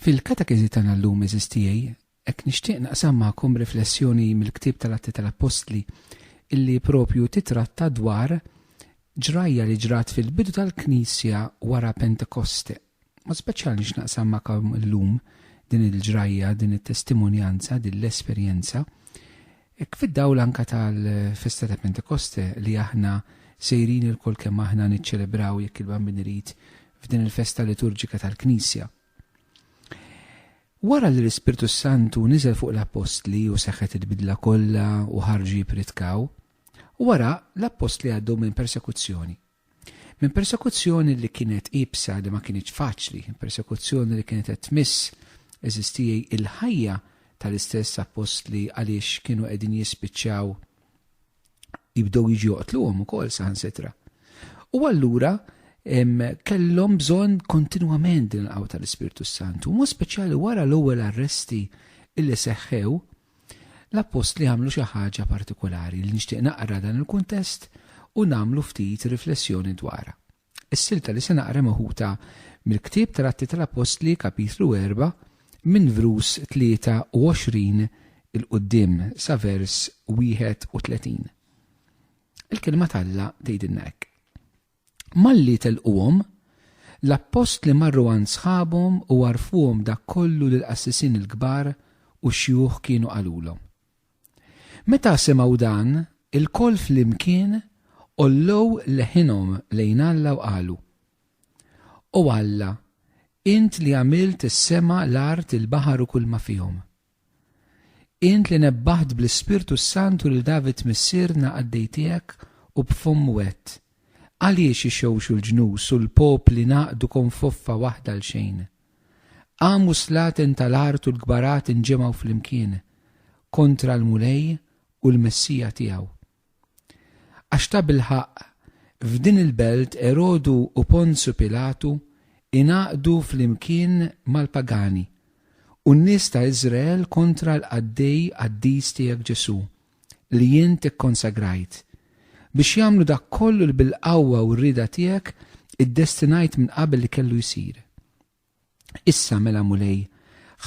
Fil-katekiżi tagħna llum eżis tiegħi, hekk nixtieq naqsam magħkom riflessjoni mill-ktieb tal-Atti tal-Appostli illi propju titratta dwar ġrajja li ġrat fil-bidu tal-Knisja wara Pentekoste. U speċjal nix naqsam ma'kom illum din il-ġrajja, din it-testimonjanza, din l-esperjenza, ek fid-dawl anka tal-festa ta' Pentekoste li aħna sejrin il-kol kemm aħna niċċelebraw jekk il-bambin irid f'din il-festa liturġika tal-Knisja. Wara li l-Ispirtu Santu niżel fuq l-Apostli u seħħet il-bidla kollha u ħarġu jipritkaw, wara l-Apostli għaddu minn persekuzzjoni. Minn persekuzzjoni li kienet iebsa li ma kinitx faċli, persekuzzjoni li kienet qed tmiss eżistijej il-ħajja tal-istess appostli għaliex kienu qegħdin jispiċċaw jibdew jiġu joqtluhom ukoll saħansitra. U allura kellhom bżonn kontinwament din il-qawwa tal-Ispirtu Santu, mod speċjali wara l-ewwel arresti illi seħħew L-appostli għamlu xi ħaġa partikulari li nixtieq naqra dan il-kuntest u nagħmlu ftit riflessjoni dwarha. Is-silta li se naqra meħuta mill-ktieb tal-Atti tal-Appostli, Kapitlu erba', minn vrus 23 'il quddiem sa vers 31. Il-Kelma t'Alla tgħidilna hekk. Malli telquhom, l-appostli marru għand sħabhom u għarrfuhom dak kollu li l-qassisin il-kbar u x-xjuħ kienu qalulhom. Meta semgħu dan, ilkoll flimkien għollew leħinhom lejn Alla u qalu, O Alla, int li għamilt is-sema, l-art, il-baħar u kulma fihom, Int li nebbaħt bl-Ispirtu s-Santu lil David missierna qaddej tiegħek u b'fomm wett, għaliex ixewxu l-ġnus u l-popli ngħaqdu konfoffa waħda għalxejn? Qam u s-slaten tal-art u l-kbarat inġemgħu flimkien kontra l-Mulej u l-Messija tiegħu. Għax tabilħaqq, f'din il-belt Erodu u Ponzju Pilatu ingħaqdu flimkien mal-pagani u n-nies ta' Iżrael kontra l-qaddej qaddis tiegħek Ġesù, li int ikkonsagrajt, biex jagħmlu dak kollu li bil-qawwa u r-rieda tiegħek iddestinajt minn qabel li kellu jsir. Issa mela Mulej,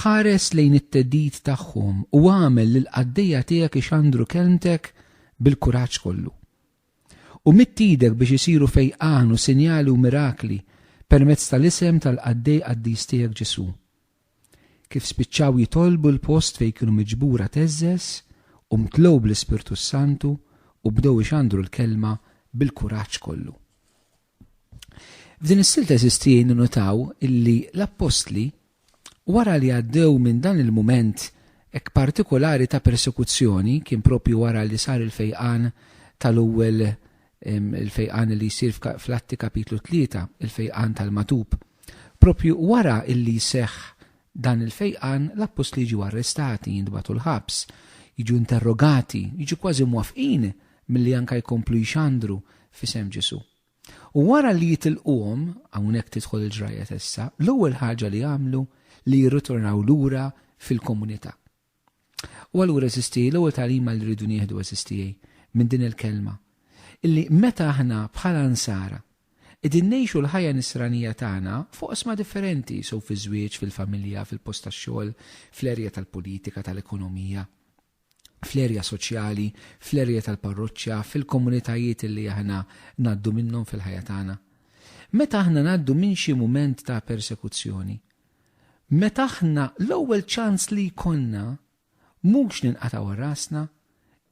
ħares lejn it-theddid tagħhom u agħmel lill-qaddejja tiegħek ixandru kelmtek bil-kuraġġ kollu. U midd idek biex isiru fejqan u sinjali u mirakli permezz tal-isem tal-qaddej qaddis tiegħek Ġesù. Kif spiċċaw jitolbu l-post fejn kienu miġbura theżżeż u mtlew bl-Ispirtu s-Santu u bdew ixandru l-kelma bil-kuraġġ kollu. F'din is-sil teżisti ninnotaw illi l-appostli wara li għaddew minn dan il-mument hekk partikolari ta' persekuzzjoni kien propju wara li sar il-fejqan tal-ewwel il-fejqan li jsir fl-Atti kapitlu 3, il-fejqan tal-matub. Propju wara illi jseħħ dan il-fejqan l-appostli jiġu arrestati, jintbagħtu l-ħabs, jiġu interrogati, jiġu kważi mwafqin milli anke jkomplu jxandru f'isem Ġesù. U wara li jitilquhom, hawnhekk tidħol il-ġrajja ta' issa, l-ewwel ħaġa li jagħmlu li jirritornaw lura fil-komunità. U allura għeżież tiegħi, l-ewwel tagħlima li rridu nieħdu għeżież tiegħi minn din il-kelma, illi meta aħna bħala nsara qegħdin ngħixu l-ħajja nisranija tagħna f'oqsma differenti, sew fiż-żwieġ, fil-familja, fil-post tax-xogħol, fl-erja tal-politika, tal-ekonomija, fl-erja soċjali, fl-erja tal-parroċċa, fil-komunitajiet li aħna ngħaddu minnhom fil-ħajja tagħna. Meta aħna ngħaddu minn xi mument ta' persekuzzjoni, meta aħna l-ewwel ċans li jkollna mhux ninqatgħu rasna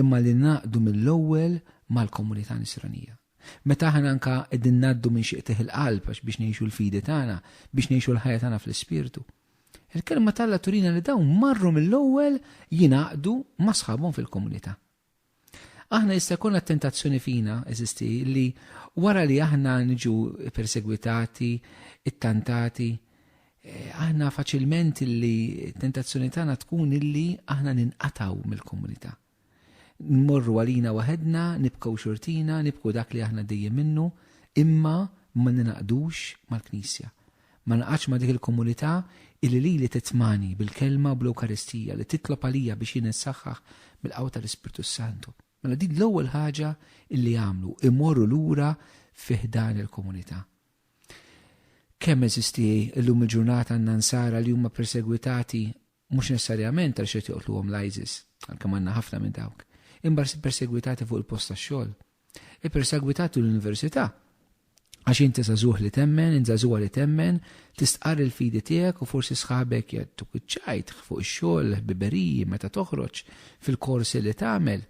imma li naqdu mill-ewwel mal-komunità nisranija. Meta aħna anka qegħdin ngħaddu minn xi qtih il-qalb għax biex ngħixu l-fidi tagħna, biex ngħixu l-ħajja tagħna fl-ispirtu. Il-Kelma t'Alla turina li dawn marru mill-ewwel jingħaqdu ma' sħabhom fil-komunità. Aħna jista' jkollna t-tentazzjoni fina, eżisti, li wara li aħna niġu persegwitati, ittantati, eh, aħna faċilment li tentazzjoni tagħna tkun illi aħna ninqataw mill-komunità. Nmorru għalina waħedna, nibkew xortina, nibkew dak li aħna għaddejjin minnu, imma ma ningħaqdux mal-Knisja. Ma ningħaqadx ma' dik il-komunità illi lili titmani bil-Kelma u bl-Ewkaristija, li titlob għalija biex jien insaħħaħ bil-qawwa tal-Ispirtu s-Santu. Mela din l-ewwel ħaġa illi għamlu, imorru lura fi ħdan il-komunità. Kemm eżisti llum il-ġurnata għandna Nsara li huma persegwitati mhux nessarjament għaliex qed joqtluhom l-ISIS, għalkemm għandna ħafna minn dawk, imma persegwitati fuq il-post tax-xogħol. Ippersegwitati l-università għax inti żagħżugħ li temmen, int żagħżugħa li temmen, tistqarr il-fidi tiegħek u forsi sħabek jattuk iċ-ċajt fuq ix-xogħol, ħbiberiji meta toħroġ fil-korsi li tagħmel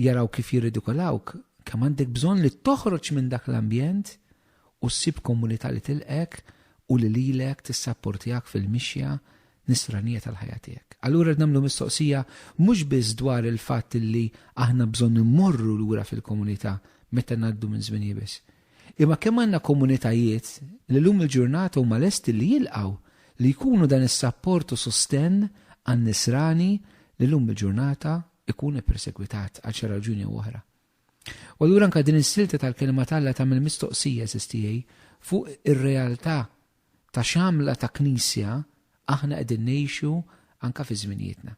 jaraw kif jirridikolawk, kemm għandek bżonn li toħroġ minn dak l-ambjent u ssib komunità li tilqgħek u li lilek tissapportjak fil-mixja nisranija tal-ħajja tiegħek. Allura rrid nagħmlu mistoqsija mhux biss dwar il-fatt li aħna bżonn immorru lura fil-komunità meta ngħaddu minn żmien iebes, imma kemm għandna komunitajiet li llum il-ġurnata huma lesti li jilqgħu, li jkunu dan is-sapport u sostenn għan-nisrani li llum il-ġurnata jkun ippersegwitat għal xi raġuni jew oħra. U allura anke din is-silta tal-Kelma t'Alla tagħmel mistoqsija, għażiż tiegħi, fuq ir-realtà ta' x'għamla ta' Knisja aħna qegħdin ngħixu anke fi żminijietna.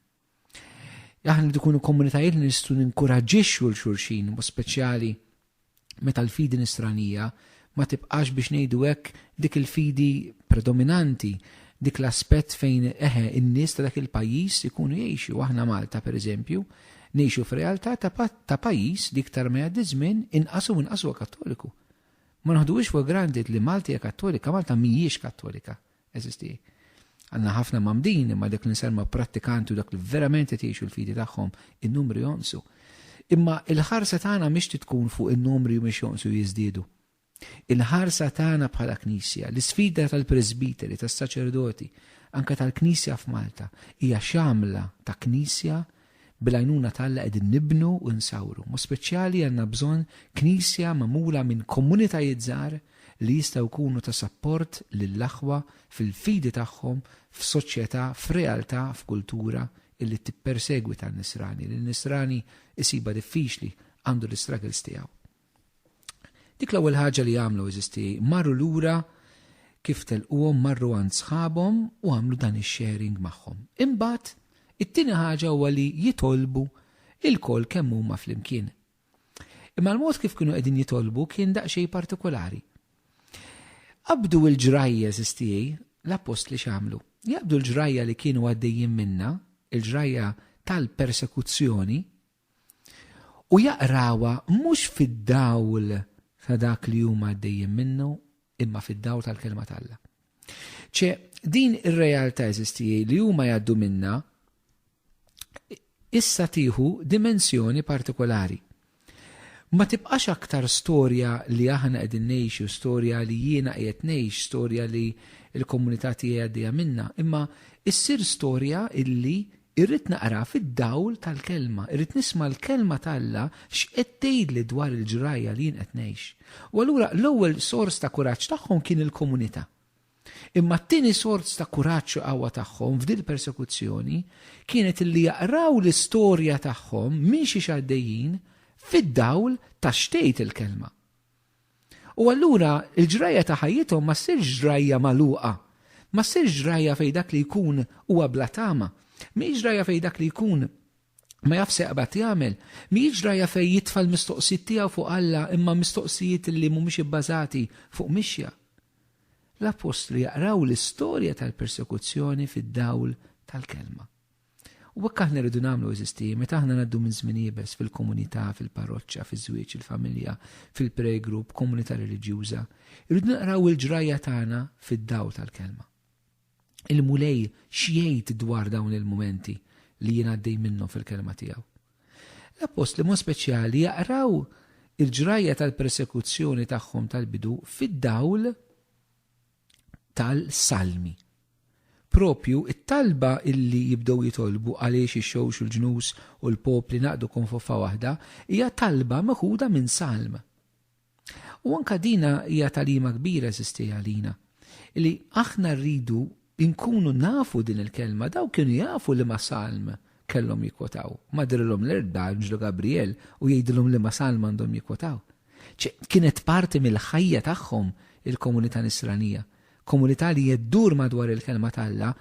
Aħna rridu nkunu komunitajiet li nistgħu ninkuraġġixxu 'l xulxin, b'mod speċjali meta l-fidi nisranija ma tibqax biex ngħidu hekk dik il-fidi predominanti, dik l-aspett fejn eħe n-nies ta' dak il-pajjiż ikunu jgħixu. Aħna Malta pereżempju ngħixu f'realtà ta' pajjiż li iktar ma jgħaddi ż-żmien inqas u inqas huwa Kattoliku. Ma noħduhiex for granted li Malta hija Kattolika, Malta mhijiex Kattolika. eżisti. Għandna ħafna mgħammdin imma dak li nsemma prattikanti u dak li verament qed jgħixu l-fidi tagħhom, in-numri jonqsu. Imma l-ħarsa tagħna mhix trid tkun fuq in-numri u mhix jonqsu jiżdiedu. Il-ħarsa tagħna bħala Knisja, l-isfida tal-presbiteri, tas-saċerdoti, anke tal-Knisja f'Malta, hija x'għamla ta' Knisja Bil-għajnuna ta' Alla qegħdin nibnu u nsawru. Mod speċjali għandna bżonn Knisja magħmula minn komunitajiet żgħar li jistgħu jkunu ta' sapport lill-aħwa fil-fidi tagħhom f'soċjetà, f'realtà, f'kultura illi tippersegwita n-nisrani, li n-nisrani jsibha diffiċli, għandu l-istruggles tiegħu. Dik l-ewwel ħaġa li għamlu eżisti marru lura kif telquhom marru għand sħabhom u għamlu dan ix-sharing magħhom. Imbagħad it-tieni ħaġa huwa li jitolbu il-koll kemm huma flimkien. Imma l-mod kif kienu qegħdin jitolbu kien daqsxejn partikolari. Qabdu l-ġrajja żistijej l-appost li xamlu. Jaqbdu l-ġrajja li kienu għaddejjin minna, il-ġrajja tal-persekuzzjoni u jaqrawha mhux fid-dawl ta' dak li huma għaddejjin minnu, imma fid-dawl tal-Kelma t'Alla. Ċe, din ir-realtà eżisti li huma jgħaddu minnha issa tieħu dimensjoni partikolari. Ma tibqax aktar storja li aħna qegħdin ngħixu, storja li jiena qiegħed ngħix, storja li l-komunità tiegħi għaddejja minna, imma issir storja illi Irrid naqra fid-dawl tal-Kelma. Irrid nisma' l-Kelma t'Alla x'qed tgħidli dwar il-ġrajja li jien qed ngħix. U allura l-ewwel sors ta' kuraġġ tagħhom kien il-komunità. Imma t-tieni sors ta' kuraġġ u qawwa tagħhom f'din il-persekuzzjoni kienet illi jaqraw l-istorja tagħhom minn xiex għaddejjin fid-dawl ta' x'tgħid il-Kelma. U allura l-ġrajja ta' ħajjithom ma ssirx ġrajja magħluqa. Ma ssirx ġrajja fejn dak li jkun huwa bla tama. Mhijiex ġrajja fejn dak li jkun ma jafx se jaqbad jagħmel. Mhijiex ġrajja fejn jitfa' l-mistoqsijiet tiegħu fuq Alla imma mistoqsijiet li mhumiex ibbażati fuq mixja. L-appostli jaqraw l-istorja tal-persekuzzjoni fid-dawl tal-Kelma. U hekk aħna rridu nagħmlu eżisti, meta aħna ngħaddu minn żmien iebes fil-komunità, fil-parroċċa, fiż-żwieġ, il-familja, fil-prayer group, komunità reliġjuża, irridu naqraw il-ġrajja tagħna fid-dawl tal-kelma. Il-Mulej x'jgħid dwar dawn il-mumenti li jien għaddej minnhom fil-kelma tiegħu. L-appost li mod speċjali jaqraw il-ġrajja tal-persekuzzjoni tagħhom tal-bidu fid-dawl tal-Salmi. Propju t-talba illi jibdew jitolbu għaliex ix-xewx u l-ġnus u l-popli ngħaqdu konfoffa waħda hija talba meħuda minn Salm. U anke dina hija tagħlima kbira eżisti għalina, li aħna rridu nkunu nafu din il-kelma, dawk kienu jafu liema Salm kellhom jikwotaw. Ma drilhom l-erba' anġlu Gabriel u jgħidilhom liema Salm għandhom jikwotaw. Kienet parti mill-ħajja tagħhom il-komunità Nisranija, komunità li ddur madwar il-Kelma t'Alla,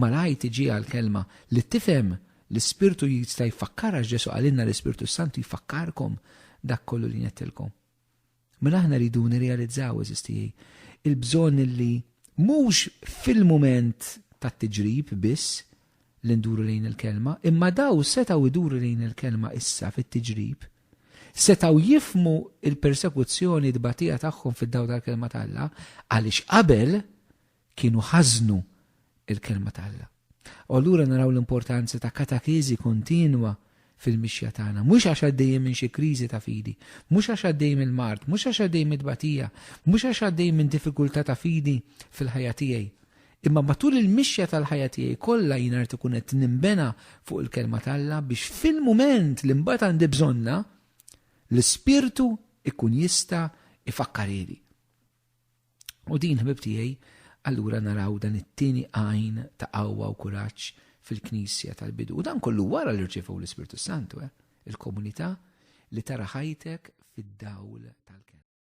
malajr tiġi għall-Kelma, li tifhem, l-Ispirtu jista' jfakkarha għax Ġesù qalilna l-Ispirtu s-Santu jfakkarkom dak kollu li ngħidtilkom. Mela aħna rridu nirrealizzaw, għażiż tiegħi, il-bżonn li mhux fil-mument tat-tiġrib biss li nduru lejn il-Kelma, imma daw setgħu jduru lejn il-Kelma issa fit-tiġrib, setgħu jifhmu l-persekuzzjoni u t-tbatija tagħhom fid-dawl tal-Kelma ta' Alla għaliex qabel kienu ħażnu l-Kelma ta' Alla. U allura naraw l-importanza ta' katakeżi kontinwa fil-mixja tagħna, mhux għax għaddejjin minn xi kriżi ta' fidi, mhux għax għaddej mill-mard, mhux għax għaddej mit-tbatija, mhux għax għaddej minn diffikultà ta' fidi fil-ħajja tiegħi, Imma matul il-mixja tal-ħajja tiegħi kollha jiena rrid ikun qed ninbena fuq il-Kelma t'Alla biex fil-mument li mbagħad għandi bżonnha, l-Ispirtu jkun jista' jfakkarili. U din, ħbib tiegħi, allura naraw dan it-tieni għajn ta' qawwa u kuraġġ fil-Knisja tal-bidu. U dan kollu wara li rċevu l-Ispirtu Santu, eh? il-komunità li tara ħajtek fid-dawl tal-kelma.